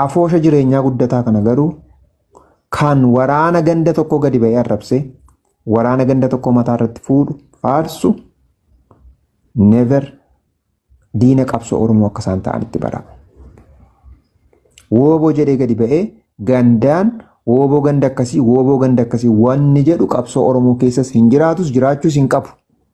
Afoosha jireenyaa guddataa kana garuu kan waraana ganda tokkoo gadi ba'ee arrabsee waraana ganda tokkoo mataa irratti fuudhu faarsu never diina qabsoo Oromoo akka isaan ta'anitti bara. Wooboo jedhee gadi ba'ee gandaan wooboo ganda akkasii wooboo ganda akkasii wanni jedhu qabsoo Oromoo keessas hin jiraatus jiraachuus hin qabu.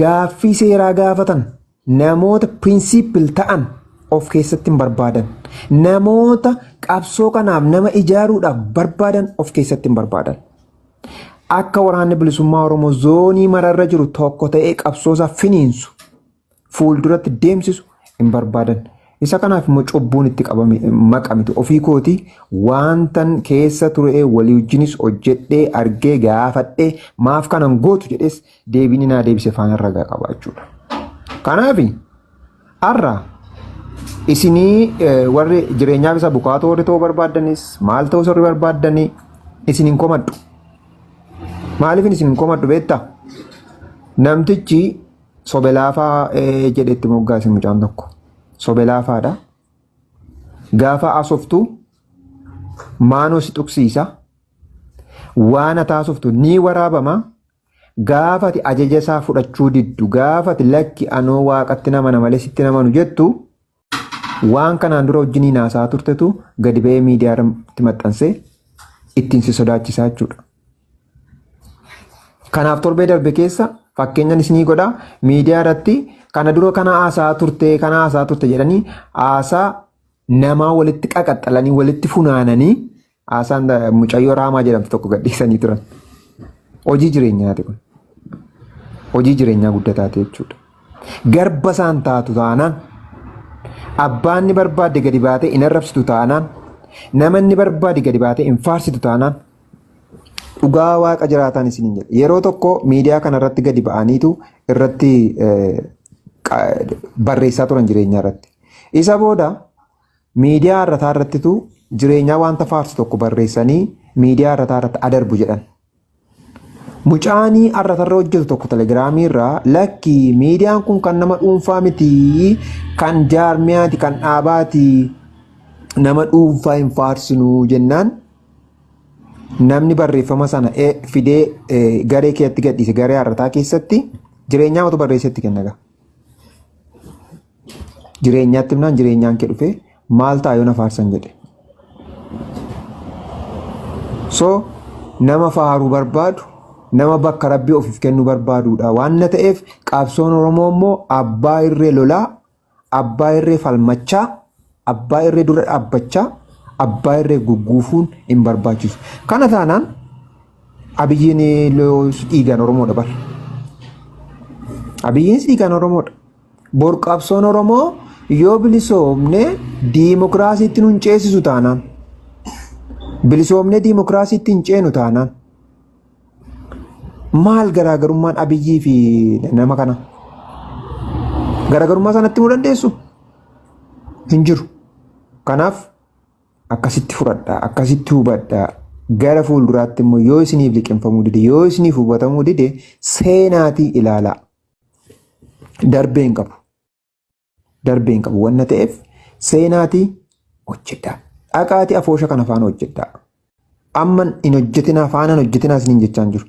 Gaaffii seeraa gaafatan namoota principle ta'an of keessatti hin barbaadan. Namoota qabsoo kanaaf nama ijaaruudhaaf barbaadan of keessatti hin barbaadan. Akka waraanni bilisummaa Oromoo zoonii mararra jiru tokko ta'ee qabsoosaa finiinsu fuulduratti deemsisu hin barbaadan. Isa kanaaf immoo cubbuun itti qabame maqa miti. Ofii kooti waantan keessa turee walii wajjinis hojjedhee argee gaafadhee maaf kanan gootu jedhees deebiin naa deebise faana ragaa qaba jechuudha. Kanaaf har'a isinii warri jireenyaaf isa bukaatoo warri ta'uu barbaaddanis maal ta'uu warri barbaaddanii isin hin komadhu. Maaliif isin hin komadhu beektaa? Namtichi Sobe laafaa eh, jedhe itti moggaase mucaan tokko. Sobe laafaadha. Gaafa haasoftu maanoo si tuqsiisa. Waan ati haasoftu ni waraabama. Gaafa ati ajaja isaa fudhachuu diddu, gaafa ati lakki anoo waaqatti nama na malee sitti namanu jettu Waan kanaan dura wajjiniin haasa'aa turtetu gadi ba'ee miidiyaa irratti maxxansee ittiin si sodaachisaa jechuudha. Kanaaf torbee darbe keessa fakkeenyan isinii godha miidiyaa irratti kana dura kana haasa'aa turte kana haasa'aa turte jedhanii haasaa namaa walitti qaqaxxalanii walitti funaananii Haasaan da- mucayyoo raamaa jedhamtu tokko gadhiisanii turan. Hojii jireenyaati kun. Hojii jireenyaa guddaa taate jechuudha. Garba isaan taatu taanaan abbaan ni barbaadde gadi baatee hin arrabsitu taanaan nama inni barbaade gadi baatee hin faarsitu taanaan dhugaa waaqa jiraataan isin hin jedhe. Yeroo tokko miidiyaa kanarratti gadi ba'aniitu irratti eh, qa- barreessaa turan jireenyaa irratti. Isa booda Miidiyaa har'ataa irrattitu jireenyaa wanta faarsu tokko barreessanii miidiyaa har'ataa irratti adarbu jedhan. Mucaanii har'atarra hojjetu tokko telegiraamii irraa lakki miidiyaan kun kan nama dhuunfaa miti kan jaarmiyaati kan dhaabaati nama dhuunfaa hin faarsinuu jennaan namni barreeffama sana fidee garee keetti gadhiise garee har'ataa keessatti jireenyaa matu barreessetti kenna ga'a. Jireenyaatti himnaan jireenyaan kee dhufee maal ta'a yoo na faarsan jedhe. So nama faaruu barbaadu nama bakka rabbii ofiif kennuu barbaaduudha waan na ta'eef qabsoon Oromoo immoo abbaa irree lolaa abbaa irree falmachaa Abbaa irree dura dhaabbachaa abbaa irree gugguufuun hin barbaachisu. Kana taanaan abiyyiin dhiigaan Oromoodha bar. Abiyyiin dhiigaan Oromoodha. Bor qabsoon Oromoo yoo bilisoomne diimokiraasiitti nun ceesisu taanaan. Bilisoomnee diimokiraasiitti hin ceenu taanaan. Maal garaagarummaan Abiyyii fi nama kana? Garaagarummaa sanatti himuu dandeessu? Hin jiru. Kanaaf akkasitti fudhadhaa, akkasitti hubadhaa. Gara fuulduraatti immoo yoo isiniif liqimfamuu dide, yoo isiniif hubatamuu dide seenaatii ilaalaa. Darbee hin qabu. darbee hin qabu wanna ta'eef seenaati hojjedha. Dhaqaati afoosha kana faana hojjedha. Amma hin hojjetinaa faana hin hojjetinaa isiniin jechaa hin jiru.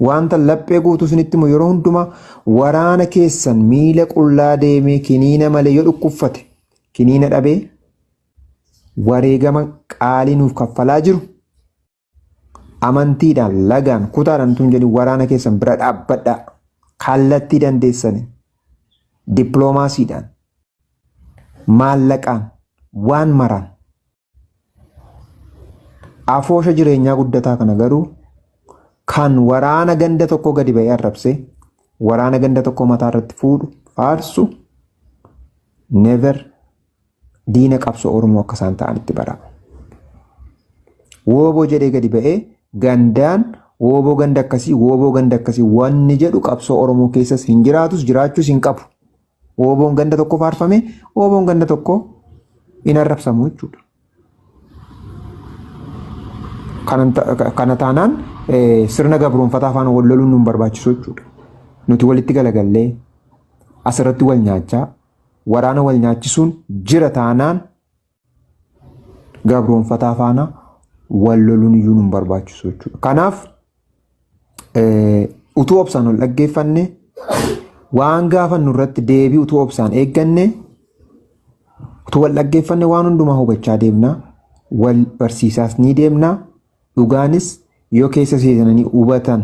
Wanta laphee guutuu isinitti immoo yeroo hundumaa waraana keessan miila qullaa deemee kiniina malee yoo dhukkubfate kiniina dhabee wareegama qaalii nuuf kaffalaa jiru Amantiidhaan, lagaan, kutaadhaan utuu hin jedhin waraana keessan bira dhaabbadhaa. Kallattii dandeessaniin, dippiloomaasiidhaan, maallaqaan, waan maraan. Afoosha jireenyaa guddataa kana garuu kan waraana ganda tokkoo gadi ba'ee arrabsee waraana ganda tokkoo mataa irratti fuudhu faarsu never diina qabsoo Oromoo akka isaan ta'anitti bara. Wooboo jedhee gadi ba'ee gandaan wooboo ganda akkasii wooboo ganda akkasii wanni jedhu qabsoo Oromoo keessas hin jiraatus jiraachuus hin qabu. Wooboon ganda tokko faarfame wooboon ganda tokko hin arrabsamu jechuudha. Kana taanaan sirna gabroonfataa afaan wal loluun nu hin barbaachisu jechuudha. Nuti walitti galagallee asirratti wal nyaachaa Waraana wal nyaachisuun jira taanaan gabroonfataa faana wal loluun iyyuu nun barbaachisu jechuudha. Kanaaf utuu obsaan ol dhaggeeffanne waan gaafannu irratti deebii utuu obsaan eegganne utuu wal dhaggeeffanne waan hundumaa hubachaa deemna wal barsiisaas ni deemna dhugaanis yoo keessa seenanii hubatan